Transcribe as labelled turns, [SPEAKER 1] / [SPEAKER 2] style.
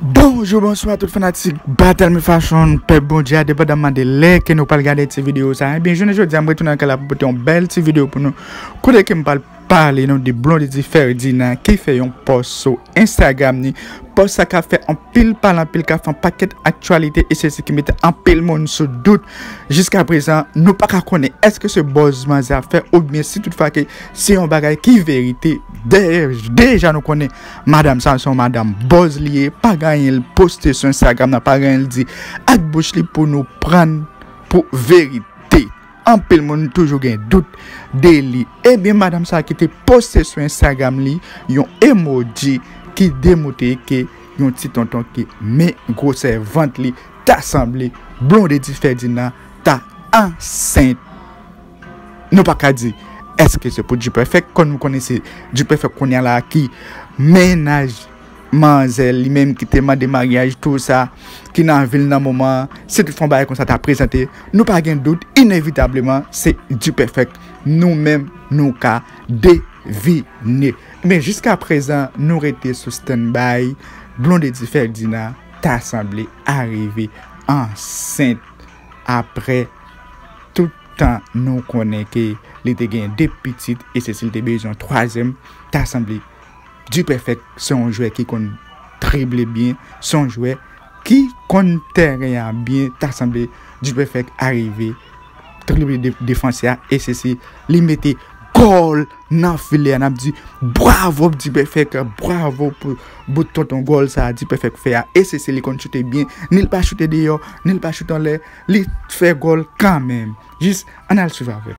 [SPEAKER 1] Bonjou, bonswa tout fanatik Battle Me Fashion, pèp bondye a depa dam mande lè ke nou pal gade ti video sa ebyen jounen jodi a m retounen anke la pou pote yon bèl ti video pou nou kote ke m pal pale nou de Blondedy Ferdinand ki fè yon post sou Instagram ni post sa ka fè anpil pale anpil ka fè anpaket aktualite e se se ki mete anpil moun sou dout jiska prezan nou pa ka konnen eske se bòz manzè ap fè oubyen si tout fwa ke Se yon bagay ki verite. Deja nou konnen madam sa son madam boz li ye. Pa gen anyen l poste sou Instagram nan. Pa gen anyen l di ak bouch li pou nou pran pou verite. Anpil moun toujou gen dout de li. Ebyen eh madam sa ki te poste sou Instagram li yon emoji ki demoute ke yon ti tonton ki men gwosè vant li ta sanble Blondedy Ferdinand ta ansent. Nou pa ka di eske se pou Dperfect kon nou konnen se Dperfect kounya la ki mennaj manzè li menm ki te mande maryaj tou sa ki nan vil nan moman an si tout fwa yon bagay konsa ta prezante nou pa gen dout inevitableman se Dperfect nou menm nou ka devine men jiska prezan nou rete sou stand by Blondedy Ferdinand ta sanble arive ansent. aprè tout tan nou konnen ke li te gen 2 pitit e se si l te bezwen yon twazyèm ta sanble Dupèfèk se yon jwè ki konn drible byen, se yon jwè ki konn tèren an byen ta sanble Dupèfèk arive drible defansè a e se si li mete gòl! Nan filè a nap di bravo pou dipèfèk bravo pou bout tonton gòl sa dipèfèk fè a e se se li konn choute byen ni l pa choute deyò ni l pa choute anlè li fè gòl kanmenm jis ann al swiv avè.